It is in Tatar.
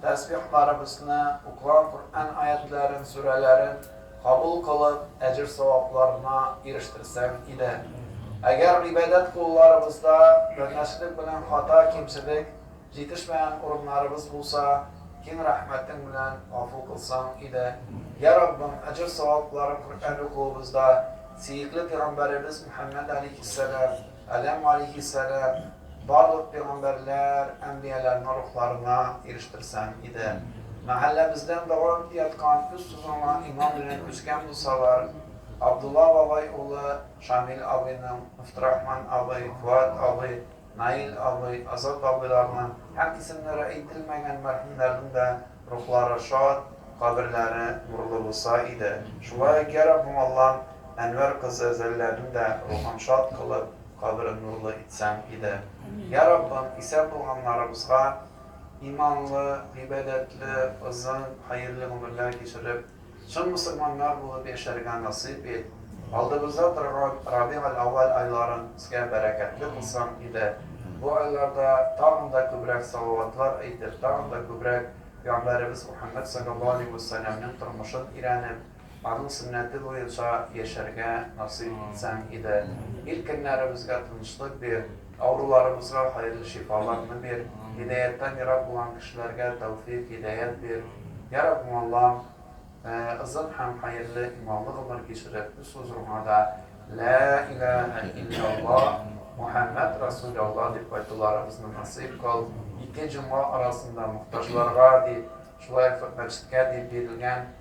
Тәсбихларыбызны, укыган Коръән аятьләрен, сүрәләрен кабул кылып, әҗер-савапларына ирештерсәң иде. Әгәр гыйбадәт кулларыбызда данәшлек белән хата-кимчелек җитешмәгән урыннарыбыз булса, киң рәхмәтең белән гафу кылсаң иде. Йә Раббым, әҗер-савапларын Коръән укуыбызда, сөекле пигамбәребез Мөхәммәд алейһиссәлам, Адәм галиһиссәлам барлык пигамбәрләр, әнбияләрнең рухларына ирештерсәң иде. Мәхәлләбездән дога үти яткан үз тузыңа иман белән күчкән булсалар, Абдулла бабай улы Шамил абыйның, Мөфтирахман абый, Фоат абый, Наил абый, Азат абыйларның һәм исемнәре әйтелмәгән мәрхүмнәрнең дә Рухлары шат, каберләре нурлы булса иде. Шулай ук, йа Раббым Аллам, Әнвәр кызы Зәлләнең дә рухын шат кылып, каберен нурлы итсәң иде. Йа Раббым, исән булганнарыбызга иманлы, гыйбадәтле, озын, хәерле гомерләр кичереп, Чын мөселманнар булып яшәргә насыйп ит, алдыбызда торган Рабигель-әүвәл айларын безгә бәрәкәтле кылсаң иде, бу айларда тагын да күбрәк салаватлар әйтеп, тагын да күбрәк пәйгамбәребез Мөхәммәд салләллаһу алейһи вә сәлләмнең тормышын өйрәнеп, аның сөннәте буенча яшәргә насыйп итсәң иде. Ил көннәребезгә тынычлык бир. Авыруларыбызга хәерле шифаларны бир, һидаяттан ерак булган кешеләргә тәүфыйк, һидәят бир, Йа Раббым Аллам, озын һәм хәерле иманлы гомер кичереп үз хозурыңа да Лә иләһә илляллаһ, Мухәммәд Расуль Аллаһ дип кайтуларыбызны насыйп кыл, ике җомга арасында мохтаҗларга дип, шулай ук мәчеткә дип бирелгән